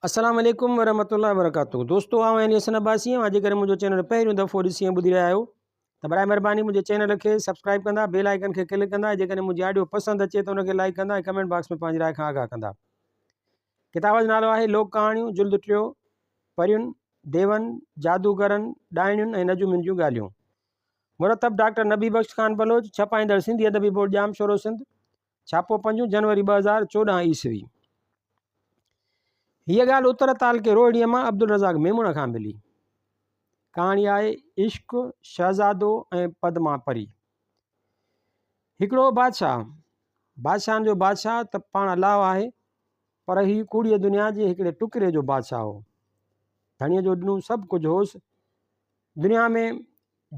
السلام عليڪم ورحمة الله وبرڪاته دوستو آئون يعني حسن عباسي آهيان جيڪڏهن منهنجو چينل پهريون دفعو ڏسي ۽ ٻڌي رهيا آهيو ته برائے مهرباني منهنجي چينل کي سبسڪرائب ڪندا بيل آئڪن کي ڪلڪ ڪندا جيڪڏهن منهنجي آڊيو پسند اچي ته ان کي لائڪ ڪندا ۽ ڪمينٽ باڪس ۾ پنهنجي راء کان آگاهه ڪندا ڪتاب جو نالو آهي لوڪ ڪهاڻيون جلد ٽيو پرين ديون جادوگرن ڏائڻيون ۽ نجومين جون ڳالهيون مرتب ڊاڪٽر نبي بخش خان بلوچ ڇپائيندڙ سنڌي ادبي بورڊ ڄام شورو سنڌ ڇاپو پنجون جنوري ٻه هزار چوڏهن عيسوي هيء ڳالهه اتر تعلقي روهڙيء مان عبدالرزاق ميمڻ کان ملي ڪهاڻي آهي عشق شهزادو ۽ پدما پري هڪڙو بادشاهه بادشاهن جو بادشاهه ته پاڻ الاهو آهي پر هي ڪوڙيء دنيا جي هڪڙي ٽڪري جو بادشاهه هو ڌڻيء جو ڏنو سڀ ڪجهه هوس دنيا ۾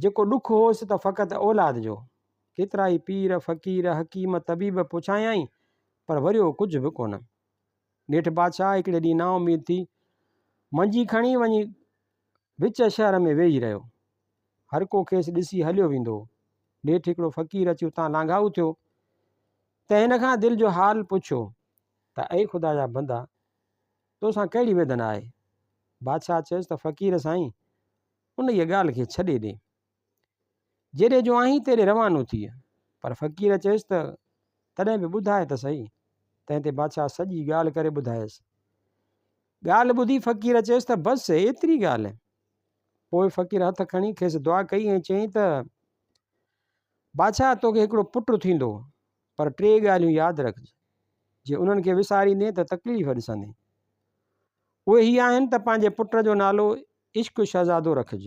جيڪو ڏک هوس ته فقط اولاد جو. ڪيترائي پير، فقير، حڪيم، طبيب پڇايائين، پر وريو ڪجهه به ڪونه. نيٺ بادشاهه هڪڙي ڏينهن نااميد ٿي، منجي کڻي وڃي وچ شهر ۾ ويهي رهيو. هرڪو کيس ڏسي هليو ويندو هو. نيٺ هڪڙو فقير اچي اتان لانگهائو ٿيو، ته هن کان دل جو حال پڇيو، ته اي خدا جا بندا! توسان ڪهڙي ويڌن آهي؟ بادشاهه چيس ته فقير سائين! انهيء ڳالهه کي ڇڏي ڏي. جيڏي جو آهين تيڏي روانو ٿيء. پر فقير چيس ته، تڏهن به ٻڌاء ته سهي. تنهن تي بادشاهه سڄي ڳالهه ڪري ٻڌايس. ڳالهه ٻڌي فقير چيس ته، بس ايتري ڳالهه. پوء فقير هٿ کڻي کيس دعا ڪئي ۽ چيائين ته، بادشاهه توکي هڪڙو پٽ ٿيندو، پر ٽي ڳالهيون ياد رکج. جي انهن کي وساريندين ته تڪليف ڏسندين. اهي هي آهن ته پنهنجي پٽ جو نالو عشق شهزادو رکج،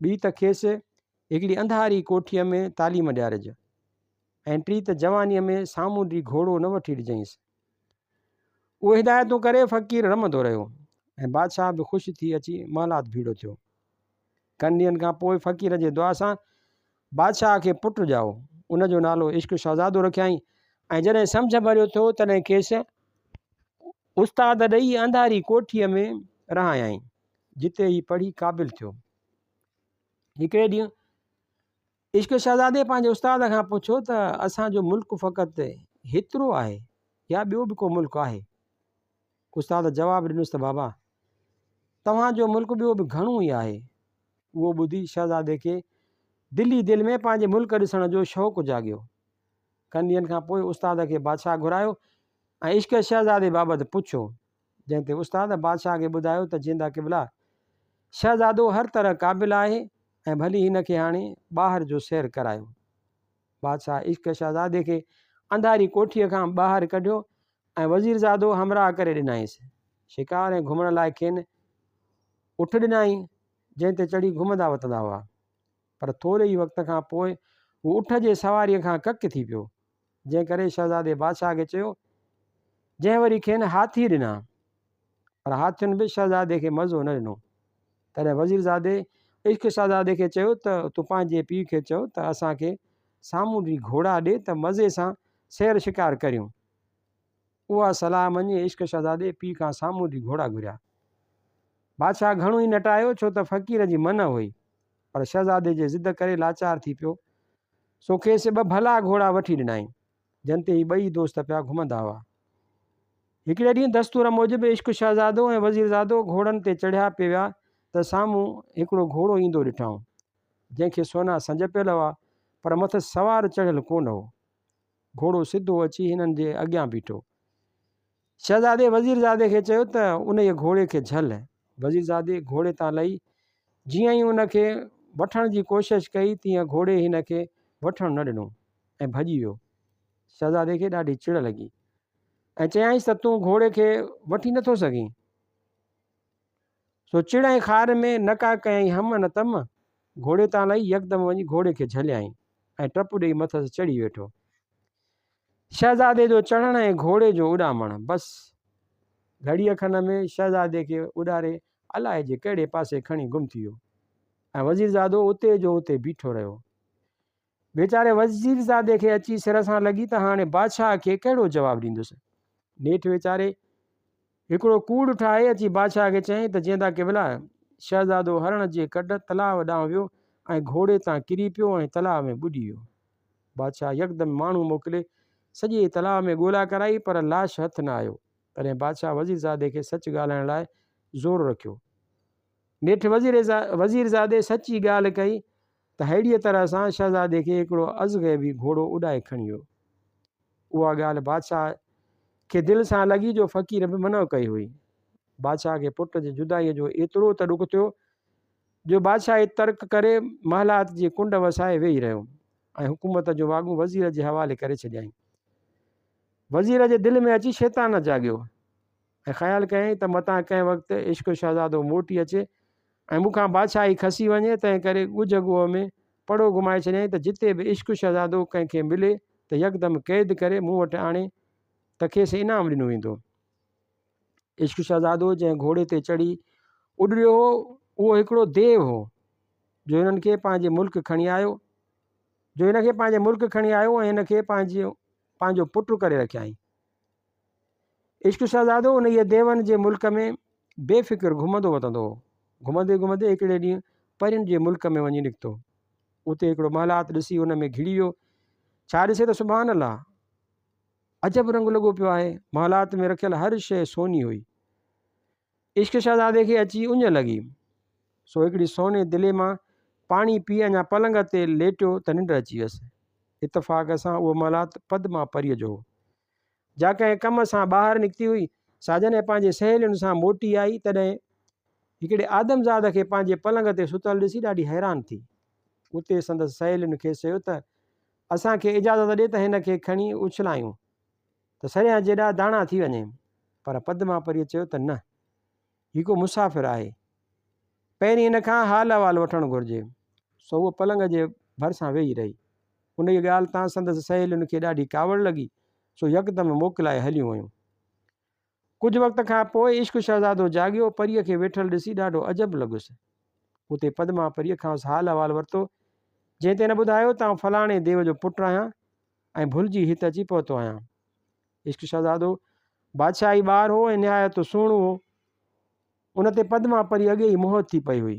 ٻي ته کيس هڪڙي انڌاري ڪوٺيء ۾ تعليم ڏيارج ۽ ٽي ته جوانيء ۾ سامونڊي گهوڙو نه وٺي ڏجانئس. اهي هدايتون ڪري فقير رمندو رهيو ۽ بادشاهه به خوش ٿي اچي محلات ڀيڙو ٿيو. ڪن ڏينهن کان پوء فقير جي دعا سان بادشاهه کي پٽ ڄائو. ان جو نالو عشق شهزادو رکيائين. ۽ جڏهن سمجهه ڀريو ٿيو تڏهن کيس استاد ڏئي انڌاري ڪوٺيء ۾ رهايائين، جتي هي پڙهي قابل ٿيو. هڪڙي ڏينهن. عشق شهزادي پنهنجي استاد کان پڇيو ته اسان جو ملڪ فقط هيترو آهي يا ٻيو به ڪو ملڪ آهي؟ استاد جواب ڏنس ته بابا توهان جو ملڪ ٻيو به گهڻو ئي آهي. اهو ٻڌي شهزادي کي دل ئي دل ۾ پنهنجي ملڪ ڏسڻ جو شوق جاڳيو. ڪن ڏينهن کان پوء استاد کي بادشاهه گهرايو ۽ عشق شهزادي بابت پڇيو. جنهن تي استاد بادشاهه کي ٻڌايو ته جيندا قبلا! شهزادو هر طرح قابل آهي ۽ ڀلي هن کي هاڻي ٻاهر جو سير ڪرايو. بادشاهه عشق شهزادي کي انڌاري ڪوٺيء کان ٻاهر ڪڍيو ۽ وزيرزادو همراهه ڪري ڏنائينس. شڪار ۽ گهمڻ لاء کين اٺ ڏنائين، جنهن تي چڙهي گهمندا وتندا هئا. پر ٿوري ئي وقت کان پوء هو اٺ جي سواريء کان ڪڪ ٿي پيو. جنهن ڪري شهزادي بادشاهه کي چيو، جنهن وري کين هاٿي ڏنا، پر هاٿين به شهزادي کي مزو نه ڏنو. تڏهن وزيرزادي عشق شهزادي کي چيو ته تون پنهنجي پيء کي چئو ته اسان کي سامونڊي گهوڙا ڏي ته مزي سان سير شڪار ڪريون. اها صلاح مڃي عشق شهزادي پيء کان سامون جي گهوڙا گهريا. بادشاهه گهڻو ئي نٽايو ڇو ته فقير جي منع هئي، پر شهزادي جي ضد ڪري لاچار ٿي پيو، سو کيس ٻه ڀلا گهوڙا وٺي ڏنائين، جن تي هي ٻئي دوست پيا گهمندا هئا. هڪڙي ڏينهن دستور موجب عشق شهزادو ۽ وزيرزادو گهوڙن تي چڙهيا پي ويا ته سامون هڪڙو گهوڙو ايندو ڏٺائون، جنهن کي سونا سنج پيل هئا، پر مٿس سوار چڙهيل ڪونه هو. گهوڙو سڌو اچي هنن جي اڳيان بيٺو. شهزادي وزيرزادي کي چيو ته انهيء گهوڙي کي جهل. وزيرزادي گهوڙي تان لهي جيئن ئي ان کي وٺڻ جي ڪوشش ڪئي تيئن گهوڙي هن کي وٺڻ نه ڏنو ۽ ڀڄي ويو. شهزادي کي ڏاڍي چڙ لڳي ۽ چيائينس ته تون گهوڙي کي وٺي نٿو سگهين. سو چڙ ۽ خار ۾ نه ڪا ڪيائين هم ۽ نه تم. گهوڙي تان لهي يڪدم وڃي گهوڙي کي جهليائين ۽ ٽپ ڏيئي مٿس چڙهي ويٺو. شهزادي جو چڙهڻ ۽ گهوڙي جو اڏامڻ بس گهڙيء کن ۾ شهزادي کي اڏاري الائي جي ڪهڙي پاسي کڻي گم ٿي ويو ۽ وزيرزادو اتي جو اتي بيٺو رهيو. ويچاري وزيرزادي کي اچي سر سان لڳي ته هاڻي بادشاهه کي ڪهڙو جواب ڏيندس. نيٺ ويچاري هڪڙو ڪوڙ ٺاهي اچي بادشاهه کي چيائين ته جيندا قبلا! شهزادو هرڻ جي ڪڍ تلاء ڏانهن ويو ۽ گهوڙي تان ڪري پيو ۽ تلاء ۾ ٻڏي ويو. بادشاهه يڪدم ماڻهو موڪلي سڄي تلاء ۾ ڳولا ڪرائي پر لاش هٿ نه آيو. تڏهن بادشاهه وزيرزادي کي سچ ڳالهائڻ لاء زور رکيو. نيٺ وزيرزادي سچ ئي ڳالهه ڪئي. ته ههڙيء طرح سان شهزادي کي هڪڙو ازغيبي گهوڙو اڏائي کڻي ويو. اها ڳالهه بادشاهه کي دل سان لڳي جو فقير به منع ڪئي هئي. بادشاهه کي پٽ جي جدائيء جو ايترو ته ڏک ٿيو جو بادشاهي ترڪ ڪري محلات جي ڪنڊ وسائي ويهي رهيو ۽ حڪومت جون واڳون وزير جي حوالي ڪري ڇڏيائين. وزير جي دل ۾ اچي شيطان جاڳيو. ۽ خيال ڪيائين ته متان ڪنهن وقت عشق شهزادو موٽي اچي ۽ مون کان بادشاهي کسي وڃي، تنهن ڪري ڳجهه ڳوهه ۾ پڙو گهمائي ڇڏيائين ته جتي به عشق شهزادو ڪنهن کي ملي ته يڪدم قيد ڪري مون وٽ آڻي ته کيس انعام ڏنو ويندو. عشق شهزادو جنهن گهوڙي تي چڙهي اڏريو هو، اهو هڪڙو ديو هو، جو هنن کي پنهنجي ملڪ کڻي آيو، جو هن کي پنهنجي ملڪ کڻي آيو ۽ هن کي پنهنجو پنهنجو پٽ ڪري رکيائين. عشق شهزادو انهيء ديون جي ملڪ ۾ بي فڪر گهمندو وتندو هو. گهمندي گهمندي هڪڙي ڏينهن پرين جي ملڪ ۾ وڃي نڪتو. اتي هڪڙو محلات ڏسي ان ۾ گهڙي ويو. ڇا ڏسي ته سبحان الله! عجب رنگ لڳو پيو آهي. محلات ۾ رکيل هر شيء سوني هئي. عشق شهزادي کي اچي اڃ لڳي. سو هڪڙي سوني دلي مان پاڻي پي اڃا پلنگ تي ليٽيو ته ننڊ اچي ويس. اتفاق سان اهو محلات پدما پريء جو هو. جا ڪنهن ڪم سان ٻاهر نڪتي هئي، سا جڏهن پنهنجي سهيلين سان موٽي آئي، تڏهن هڪڙي آدمزاد کي پنهنجي پلنگ تي ستل ڏسي ڏاڍي حيران ٿي. اتي سندس سهيلين کيس چيو ته، اسان کي اجازت ڏي ته هن کي کڻي اڇلايون ته سريان جيڏا داڻا ٿي وڃي. پر پدما پريء چيو ته نه! هي ڪو مسافر آهي. پهرين هن کان حال احوال وٺڻ گهرجي. سو هوء پلنگ جي ڀرسان ويهي رهي. انهيء ڳالهه تان سندس سهيلين کي ڏاڍي ڪاوڙ لڳي، سو يڪدم موڪلائي هليون ويون. ڪجهه وقت کان پوء عشق شهزادو جاڳيو، پريء کي ويٺل ڏسي ڏاڍو عجب لڳس. اتي پدما پريء کانئس حال احوال ورتو، جنهن تي هن ٻڌايو ته آئون فلاڻي ديو جو پٽ آهيان، ۽ ڀلجي هت اچي پهتو آهيان. عشق شهزادو بادشاهه ئي ٻار هو ۽ نهايت سهڻو هو. ان تي پدما پري اڳي ئي موهت ٿي پئي هئي.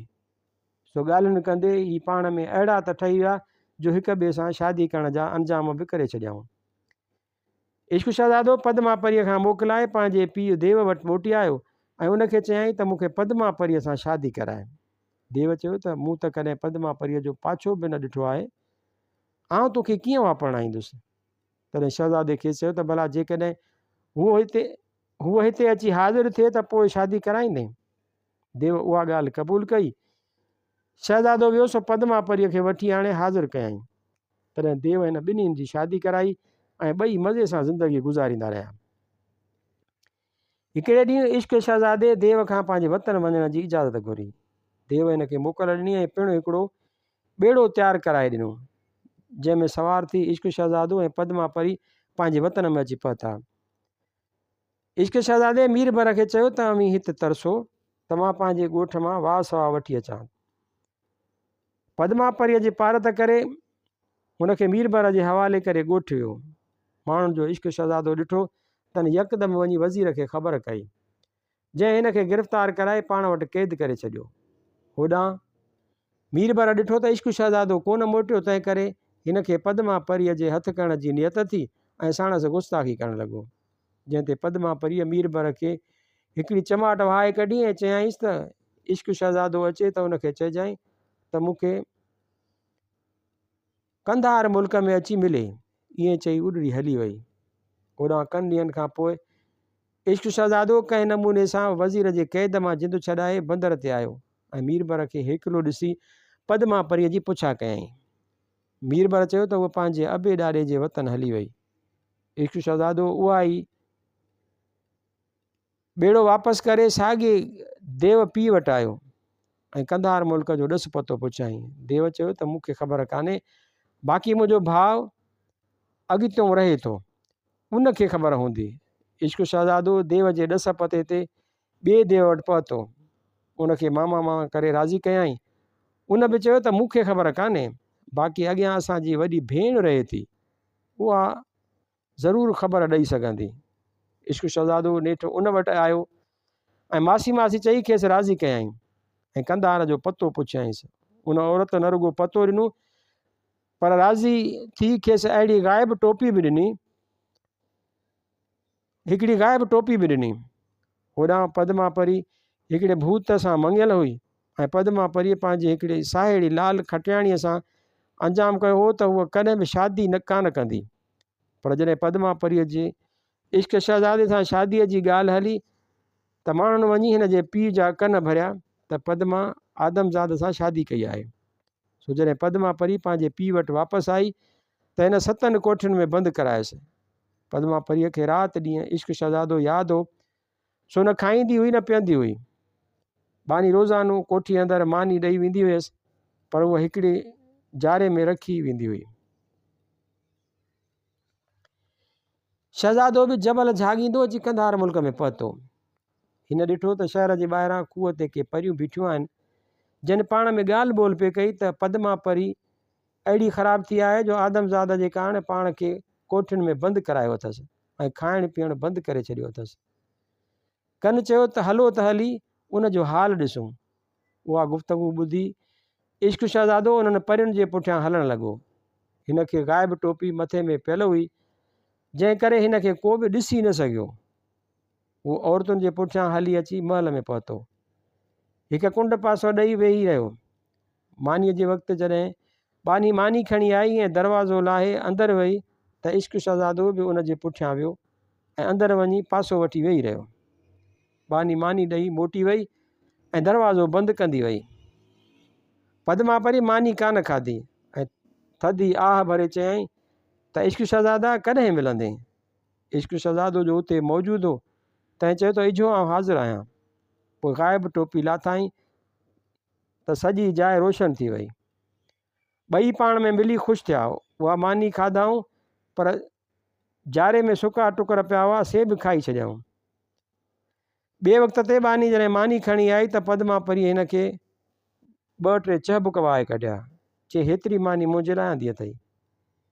سو ڳالهين ڪندي ئي پاڻ ۾ اهڙا ته ٺهي ويا جو هڪ ٻئي سان شادي ڪرڻ جا انجام به ڪري ڇڏيائون. عشق شهزادو پدما پريء کان موڪلائي پنهنجي پيء ديو وٽ موٽي آيو ۽ ان کي چيائين ته مون کي پدما پريء سان شادي ڪرائي. ديو چيو ته مون ته ڪڏهن پدما پريء جو پاڇو به نه ڏٺو آهي. آئون تو کي ڪيئن واپرڻائيندس؟ تڏهن شهزادي کيس چيو ته ڀلا جيڪڏهن هوء هتي هوء هتي اچي حاضر ٿئي ته پوء شادي ڪرائيندين؟ ديو اها ڳالهه قبول ڪئي. شهزادو ويو سو پدما پريء کي وٺي آڻي حاضر ڪيائين. تڏهن ديو هن ٻنهين جي شادي ڪرائي ۽ ٻئي مزي سان زندگي گذاريندا رهيا. هڪڙي ڏينهن عشق شهزادي ديو کان پنهنجي وطن وڃڻ جي اجازت گهري. ديو هن کي موڪل ڏني ۽ پڻ هڪڙو ٻيڙو تيار ڪرائي ڏنو، جنهن ۾ سوار ٿي عشق شهزادو ۽ پدما پري پنهنجي وطن ۾ اچي پهتا. عشق شهزادي ميربر کي چيو ته اوهين هت ترسو ته مان پنهنجي ڳوٺ مان واهه سواهه وٺي اچان. پدما پريء جي پارت ڪري، هن کي ميربحر جي حوالي ڪري ڳوٺ ويو. ماڻهن جو عشق شهزادو ڏٺو تن يڪدم وڃي وزير کي خبر ڪئي، جنهن هن کي گرفتار ڪرائي پاڻ وٽ قيد ڪري ڇڏيو. هوڏانهن ميربحر ڏٺو ته عشق شهزادو ڪونه موٽيو، تنهن ڪري هن کي پدما پريء جي هٿ ڪرڻ جي نيت ٿي ۽ ساڻس گستاخي ڪرڻ لڳو. جنهن تي پدما پريء ميربر کي هڪڙي چماٽ وهائي ڪڍي ۽ چيائينس ته عشق شهزادو اچي ته ان کي چئجانء ته مون کي قنڌار ملڪ ۾ اچي ملي. ائين چئي اڏري هلي وئي. هوڏانهن ڪن ڏينهن کان پوء عشق شهزادو ڪنهن نموني سان وزير جي قيد مان جند ڇڏائي بندر تي آيو ۽ ميربر کي هيڪلو ڏسي پدما پريء جي پڇا ڪيائين. ميربر چيو ته هوء پنهنجي ابي ڏاڏي جي وطن هلي وئي. عشق شهزادو اها آئي. ٻيڙو واپس ڪري ساڳي ديو پيء وٽ آيو ۽ قنڌار ملڪ جو ڏس پتو پڇيائين. ديو چيو ته مون کي خبر ڪانهي، باقي منهنجو ڀاء اڳتيون رهي ٿو، ان کي خبر هوندي. عشق شهزادو ديو جي ڏس پتي تي ٻئي ديو وٽ پهتو. ان کي ماما ماما ڪري راضي ڪيائين. ان به چيو ته مون کي خبر ڪانهي، باقي اڳيان اسان جي وڏي ڀيڻ رهي ٿي، اها ضرور خبر ڏئي سگهندي. عشق شهزادو نيٺ ان وٽ آيو ۽ ماسي ماسي چئي کيس راضي ڪيائين ۽ قنڌار جو پتو پڇيائينس. ان عورت نه رڳو پتو ڏنو، پر راضي ٿي کيس اهڙي غائب ٽوپي به ڏني، هڪڙي غائب ٽوپي به ڏني. هوڏانهن پدما پري هڪڙي ڀوت سان مڱيل هئي ۽ پدما پريء پنهنجي هڪڙي ساهيڙي لال کٽياڻيء سان انجام ڪيو هو ته هوء ڪڏهن به شادي ڪانه ڪندي. پر جڏهن پدما پريء جي عشق شهزادي سان شاديء جي ڳالهه هلي ته ماڻهن وڃي هن جي پيء جا ڪن ڀريا ته پدما آدمزاد سان شادي ڪئي آهي. سو جڏهن پدما پري پنهنجي پيء وٽ واپس آئي ته هن ستن ڪوٺين ۾ بند ڪرايس ۽ پدما پريء کي رات ڏينهن عشق شهزادو ياد هو، سو نه کائيندي هئي نه پيئندي هئي. ٻانهي روزانو ڪوٺيء اندر ماني ڏئي ويندي هيس، پر اها هڪڙي جاري ۾ رکي ويندي هئي. شهزادو به جبل جهاڳيندو اچي قنڌار ملڪ ۾ پهتو. هن ڏٺو ته شهر جي ٻاهران کوهه تي ڪي پريون بيٺيون آهن، جن پاڻ ۾ ڳالهه ٻولهه پئي ڪئي ته پدما پري اهڙي خراب ٿي آهي جو آدمزاد جي ڪارڻ پاڻ کي ڪوٺين ۾ بند ڪرايو اٿس ۽ کائڻ پيئڻ بند ڪري ڇڏيو اٿس. ڪن چيو ته هلو ته هلي ان جو حال ڏسون. اها گفتگو ٻڌي عشق شهزادو انهن پرين جي پٺيان هلڻ لڳو. هن کي غائب ٽوپي مٿي ۾ پيل هئي جنهن ڪري هن کي ڪو به ڏسي نه سگهيو. هو عورتن جي پٺيان هلي اچي محل ۾ پهتو. هڪ ڪنڊ پاسو ڏئي ويهي رهيو. مانيء جي وقت جڏهن ٻانهي ماني کڻي آئي ۽ دروازو لاهي اندر وئي ته عشق شهزادو به ان جي پٺيان ويو ۽ اندر وڃي پاسو وٺي ويهي رهيو. ٻانهي ماني ڏئي موٽي وئي ۽ دروازو بند ڪندي وئي. پدما پري ماني ڪانه کاڌي ۽ ٿڌي آهه ڀري چيائين ته عشق شهزادا ڪڏهن ملندين؟ عشق شهزادو جو اتي موجود هو تنهن چيو ته اجهو آئون حاضر آهيان. پوء غائب ٽوپي لاٿائين. ته سڄي جاء روشن ٿي وئي. ٻئي پاڻ ۾ ملي خوش ٿيا. اها ماني کاڌائون پر جاري ۾ سڪا ٽڪر پيا هئا سي به کائي ڇڏيائون. ٻئي وقت تي ٻانهي جڏهن ماني کڻي آئي ته پدما پرينء هن کي ٻه ٽي چهبڪ وهائي ڪڍيا. چي هيتري ماني منهنجي لاء آندي اٿئي.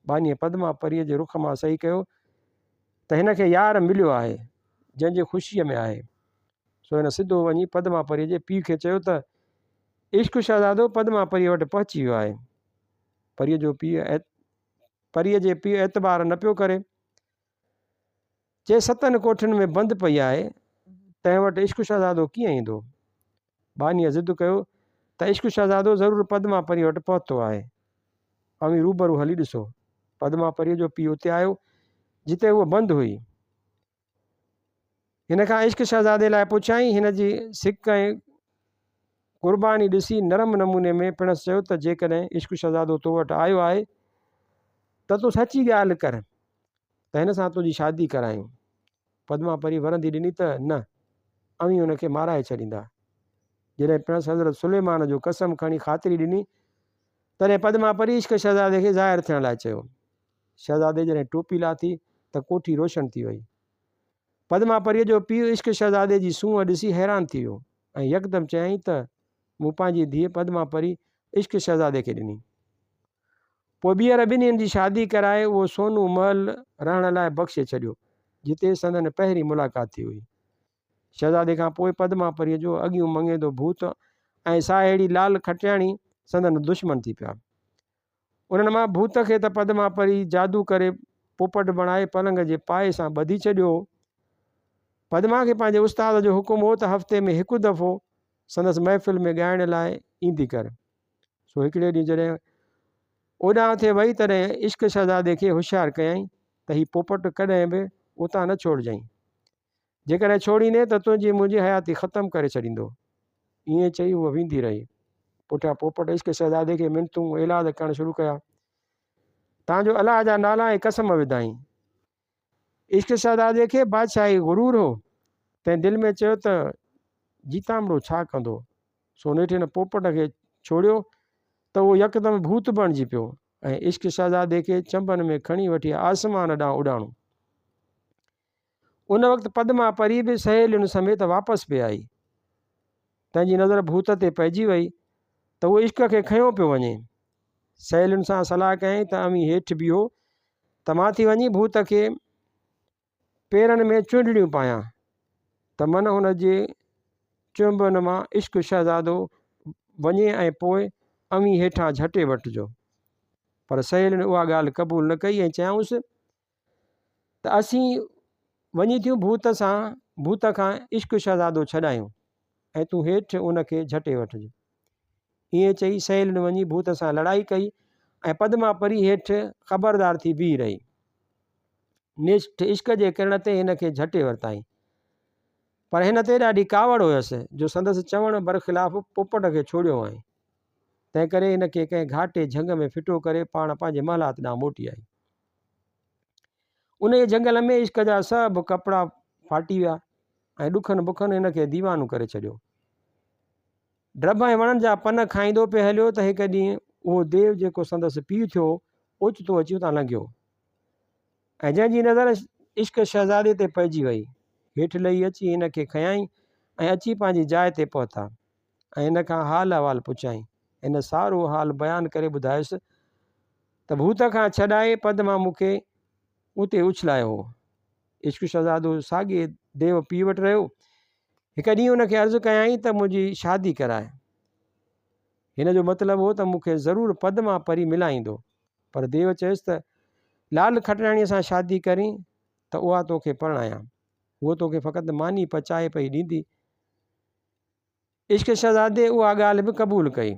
ٻانهيء پدما پرينء جي رخ مان سهي ڪيو ته هن کي يار مليو آهي جنهن جي خوشيء ۾ آهي سو هن سڌو وڃي پدما پريء جي پيء کي چيو ته، عشق شهزادو پدما پريء وٽ پهچي ويو آهي. پريء جو پيء پريء جي پيء اعتبار نه پيو ڪري. چي ستن ڪوٺين ۾ بند پئي آهي، تنهن وٽ عشق شهزادو ڪيئن ايندو؟ ٻانهيء ضد ڪيو ته عشق شهزادو ضرور پدما پريء وٽ پهتو آهي. اوهين روبرو هلي ڏسو. پدما پريء جو پيء اتي آيو، جتي هوء بند هئي. هن کان عشق شهزادي لاء پڇيائين. هن جي سڪ ۽ قرباني ڏسي نرم نموني ۾ پڻس چيو ته جيڪڏهن عشق شهزادو تو وٽ آيو آهي ته تو سچي ڳالهه ڪر ته هن سان تنهنجي شادي ڪرايون. پدما پري ورندي ڏني ته نه، اوهين هن کي مارائي ڇڏيندا. جڏهن پڻس حضرت سليمان جو قسم کڻي خاطري ڏني، تڏهن پدما پري عشق شهزادي کي ظاهر ٿيڻ لاء چيو. شهزادي جڏهن ٽوپي لاٿي ته ڪوٺي روشن ٿي وئي. پدما پريء جو پيء عشق شهزادي جي سونهن ڏسي حيران ٿي ويو ۽ يڪدم چيائين ته مون پنهنجي ڌيء پدما پري عشق شهزادي کي ڏني. پوء ٻيهر ٻنهين جي شادي ڪرائي اهو سونو محل رهڻ لاء بخشي ڇڏيو، جتي سندن پهرين ملاقات ٿي هئي. شهزادي کان پوء پدما پريء جو اڳيون مڱيندو ڀوت ۽ ساهيڙي لال کٽياڻي سندن دشمن ٿي پيا. انهن مان ڀوت کي ته پدما پري جادو ڪري پوپٽ بڻائي پلنگ جي پائي سان ٻڌي ڇڏيو هو. پدما کي پنهنجي استاد جو حڪم هو ته هفتي ۾ هڪ دفعو سندس محفل ۾ ڳائڻ لاء ايندي ڪر. سو هڪڙي ڏينهن جڏهن اوڏانهن تي وئي تڏهن عشق شهزادي کي هوشيار ڪيائين ته هي پوپٽ ڪڏهن به اتان نه ڇوڙجئين. جيڪڏهن ڇوڙيندين ته تنهنجي منهنجي حياتي ختم ڪري ڇڏيندو. ائين چئي هوء ويندي رهي. پٺيان پوپٽ عشق شهزادي کي منتون ايلاز ڪرڻ شروع ڪيا. تان جو الله جا نالا ۽ قسم وڌائين. عشق شهزادي کي بادشاهي غرور هو. تنهن دل ۾ چيو ته جيتامڙو ڇا ڪندو؟ سو نيٺ هن پوپٽ کي ڇوڙيو ته اهو يڪدم ڀوت بڻجي پيو ۽ عشق شهزادي کي چنبن ۾ کڻي وٺي آسمان ڏانهن اڏاڻو. ان وقت پدما پري به سهيلين سميت واپس پئي آئي. تنهن جي نظر ڀوت تي پئجي وئي ته اهو عشق کي کنيو پيو وڃي. سهيلين سان صلاح ڪيائين ته اوهين هيٺ بيهو ته مان ٿي وڃي ڀوت کي پيرن ۾ چونڊڙيون پايان ته من هن جي چنبن مان عشق شهزادو وڃي ۽ پوء اوهين هيٺان جهٽي وٺجو. پر سهيلين اها ڳالهه قبول نه ڪئي ۽ چيائونس ته اسين وڃي ٿيون ڀوت سان ڀوت کان عشق شهزادو ڇڏايون ۽ تون هيٺ ان کي جهٽي وٺجي. ائين چئي سهيلين وڃي ڀوت سان لڙائي ڪئي ۽ پدما پري هيٺ خبردار ٿي بيهي رهي. نيٺ عشق جي ڪرڻ تي هن کي جهٽي ورتائين. پر هن تي ڏاڍي ڪاوڙ هيس جو سندس چوڻ برخلاف پوپٽ کي ڇوڙيو هئائين. تنهن ڪري هن کي ڪنهن گهاٽي جهنگ ۾ ڦٽو ڪري پاڻ پنهنجي محلات ڏانهن موٽي آئي. انهيء جهنگل ۾ عشق جا سڀ ڪپڙا ڦاٽي ويا ۽ ڏکن بکن هن کي ديوانو ڪري ڇڏيو. ڊڀ ۽ وڻن جا پن کائيندو پئي هليو ته هڪ ڏينهن اهو ديو جيڪو سندس پيء ٿيو اوچتو اچي اتان لنگهيو ۽ جنهن جي نظر عشق شهزادي تي پئجي وئي هيٺ لهي اچي هن کي کنيائين ۽ اچي پنهنجي جاء تي پهتا. ۽ هن کان حال احوال پڇيائين. هن سارو حال بيان ڪري ٻڌايس ته ڀوت کان ڇڏائي پدما مون کي اتي اڇلايو هو. عشق شهزادو ساڳئي ديو پيء وٽ رهيو. هڪ ڏينهن هن کي عرض ڪيائين ته منهنجي شادي ڪرائي. هن جو مطلب هو ته مون کي ضرور پدما پري ملائيندو. پر ديو چيس ته لال کٽراڻيء سان شادي ڪرين ته اها توکي پرڻايان. هوء توکي فقط ماني پچائي پئي ڏيندي. عشق شهزادي اها ڳالهه به قبول ڪئي،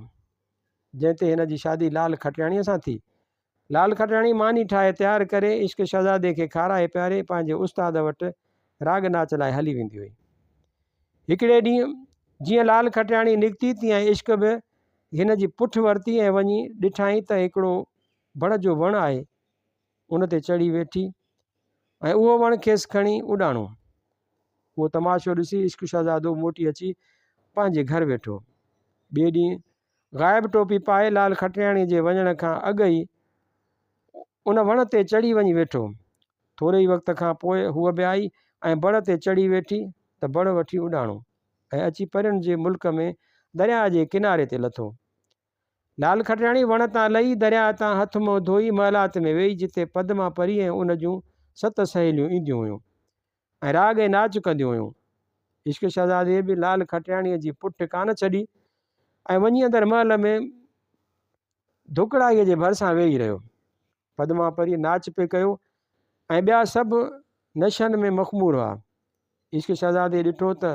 جنهن تي هن جي شادي لال کٽياڻيء سان ٿي. لال کٽياڻي ماني ٺاهي تيار ڪري، عشق شهزادي کي کارائي پياري پنهنجي استاد وٽ راڳ ناچ لاء هلي ويندي هئي. هڪڙي ڏينهن جيئن لال کٽياڻي نڪتي، تيئن عشق به هن جي پٺ ورتي ۽ وڃي ڏٺائين ته هڪڙو بڙ جو وڻ آهي، ان تي چڙهي ويٺي ۽ اهو وڻ کيس کڻي اڏاڻو. اهو تماشو ڏسي عشق شهزادو موٽي اچي پنهنجي گهر ويٺو. ٻئي ڏينهن غائب ٽوپي پائي لال کٽرياڻيء جي وڃڻ کان اڳ ئي ان وڻ تي چڙهي وڃي ويٺو. ٿوري ئي وقت کان پوء هوء به آئي ۽ بڙ تي چڙهي ويٺي ته بڙ وٺي اڏاڻو ۽ اچي پرين جي ملڪ ۾ درياء جي ڪناري تي لٿو. لال کٽياڻي وڻ تان لهي، درياء تان هٿ منهن ڌوئي محلات ۾ ويئي جتي پدما پري ۽ ان جون ست سهيليون اينديون هيون ۽ راڳ ۽ ناچ ڪنديون هيون. عشق شهزادي به لال کٽياڻيء جي پٺ ڪانه ڇڏي ۽ وڃي اندر محل ۾ ڌڪڙائيء جي ڀرسان ويهي رهيو. پدما پري ناچ پئي ڪيو ۽ ٻيا سڀ نشن ۾ مخمور هئا. عشق شهزادي ڏٺو ته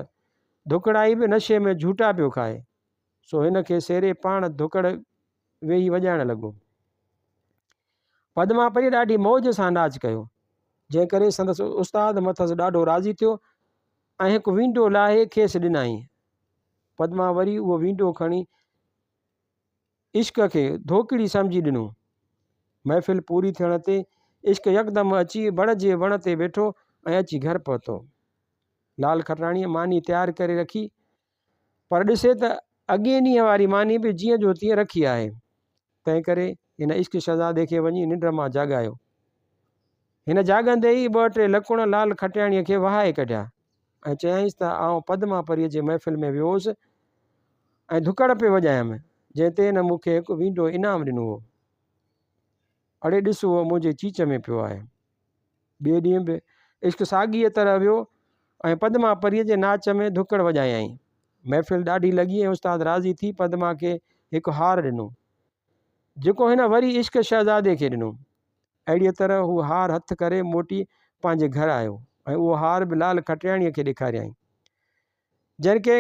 ڌڪڙائي به نشي ۾ جهوٽا پيو کائي. سو هن کي سيري پاڻ ڌڪڙ ويهي وڄائڻ لڳو. پدما پريء ڏاڍي موج سان ناچ ڪيو، جنهن ڪري سندس استاد مٿس ڏاڍو راضي ٿيو ۽ هڪ وينڊو لاهي کيس ڏنائين. پدما وري اهو وينڊو کڻي عشق کي ڌوڪڙي سمجهي ڏنو. محفل پوري ٿيڻ تي عشق يڪدم اچي بڙ جي وڻ تي ويٺو ۽ اچي گهر پهتو. لال کٽراڻيء ماني تيار ڪري رکي پر ڏسي ته اڳئين ڏينهن واري ماني به جيئن جو تيئن رکي آهي. تنهن ڪري هن عشق شهزادي کي وڃي ننڊ مان جاڳايو. هن جاڳندي ئي ٻه ٽي لڪڻ لال کٽياڻيء کي وهائي ڪڍيا ۽ چيائينس ته آئون پدما پريء جي محفل ۾ ويو هوس ۽ ڌڪڙ پئي وڄايم، جنهن تي هن مون کي هڪ وينڊو انعام ڏنو هو. اڙي ڏس هو منهنجي چيچ ۾ پيو آهي. ٻئي ڏينهن به عشق ساڳيء طرح ويو ۽ پدما پريء جي ناچ ۾ ڌڪڙ وڄايائين. محفل ڏاڍي لڳي ۽ استاد راضي ٿي پدما کي هڪ هار ڏنو، جيڪو هن وري عشق شهزادي کي ڏنو. اهڙيء طرح هو هار هٿ ڪري موٽي پنهنجي گهر آيو ۽ اهو هار به لال کٽياڻيء کي ڏيکاريائين. جنهن کي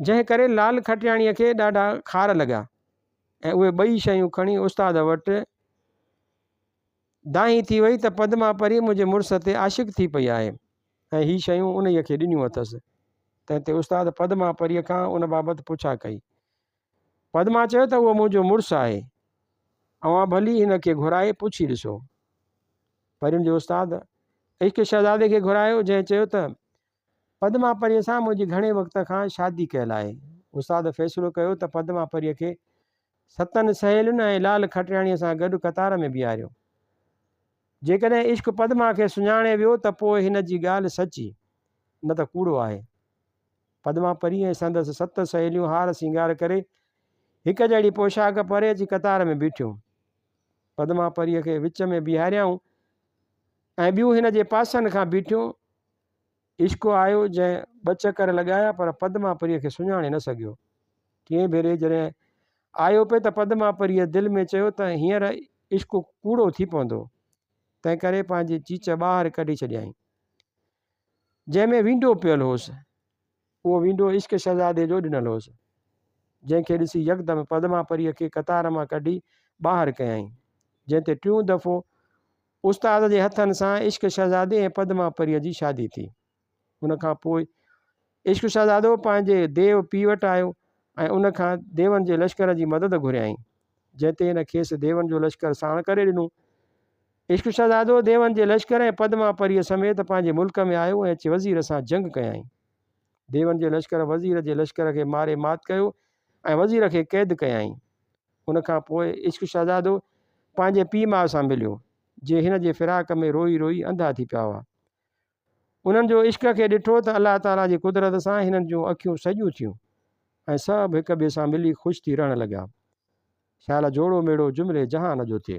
جنهن ڪري لال کٽياڻيء کي ڏاڍا خار لڳا ۽ اهي ٻئي شيون کڻي استاد وٽ دانهين ٿي وئي ته پدما پري منهنجي مڙس تي عاشق ٿي پئي آهي ۽ هي شيون انهيء کي ڏنيون اٿس. تنهن تي استاد پدما پريء کان ان بابت پڇا ڪئي. پدما چيو ته اهو منهنجو مڙس آهي. اوهان ڀلي هن کي گهرائي پڇي ڏسو. پرين جي استاد عشق شهزادي کي گهرايو جنهن چيو ته پدما پريء سان منهنجي گهڻي وقت کان شادي ڪيل آهي. استاد فيصلو ڪيو ته پدما پريء کي ستن سهيلين ۽ لال کٽياڻيء سان گڏ قطار ۾ بيهاريو. جيڪڏهن عشق پدما کي سڃاڻي ويو ته پوء هن جي ڳالهه سچي، نه ته ڪوڙو آهي. پدما پريء ۽ سندس ست سهيليون هار سينگار ڪري، هڪ جهڙي پوشاڪ پري اچي قطار ۾ بيٺيون. پدما پريء کي وچ ۾ بيهاريائون ۽ ٻيون هن جي پاسن کان بيٺيون. عشق آيو جنهن ٻه چڪر لڳايا پر پدما پريء کي سڃاڻي نه سگهيو. ٽئين ڀيري جڏهن آيو پئي ته پدما پريء دل ۾ چيو ته هينئر عشق ڪوڙو ٿي پوندو. تنهن ڪري پنهنجي چيچ ٻاهر ڪڍي ڇڏيائين. جنهن ۾ وينڊو پيل هوس. اهو وينڊو عشق شهزادي جو ڏنل هوس، جنهن کي ڏسي يڪدم پدما پريء کي قطار مان ڪڍي ٻاهر ڪيائين، جنهن تي ٽيون دفعو استاد جي هٿن سان عشق شهزادي ۽ پدما پريء جي شادي ٿي. ان کان پوء عشق شهزادو پنهنجي ديو پيء وٽ آيو ۽ ان کان ديون جي لشڪر جي مدد گهريائين، جنهن تي هن کيس ديون جو لشڪر ساڻ ڪري ڏنو. عشق شهزادو ديون جي لشڪر ۽ پدماپريء سميت پنهنجي ملڪ ۾ آيو ۽ اچي وزير سان جنگ ڪيائين. ديون جي لشڪر وزير جي لشڪر کي ماري مات ڪيو ۽ وزير کي قيد ڪيائين. ان کان پوء عشق شهزادو پنهنجي پيء ماء سان مليو، جي هن جي فراق ۾ روئي روئي انڌا ٿي پيا هئا. انهن جو عشق کي ڏٺو ته الله تعاليٰ جي قدرت سان هنن جون اکيون سڄيون ٿيون ۽ سڀ هڪ ٻئي سان ملي خوش ٿي رهڻ لڳا. شال جوڙو ميڙو جملي جهان جو ٿئي.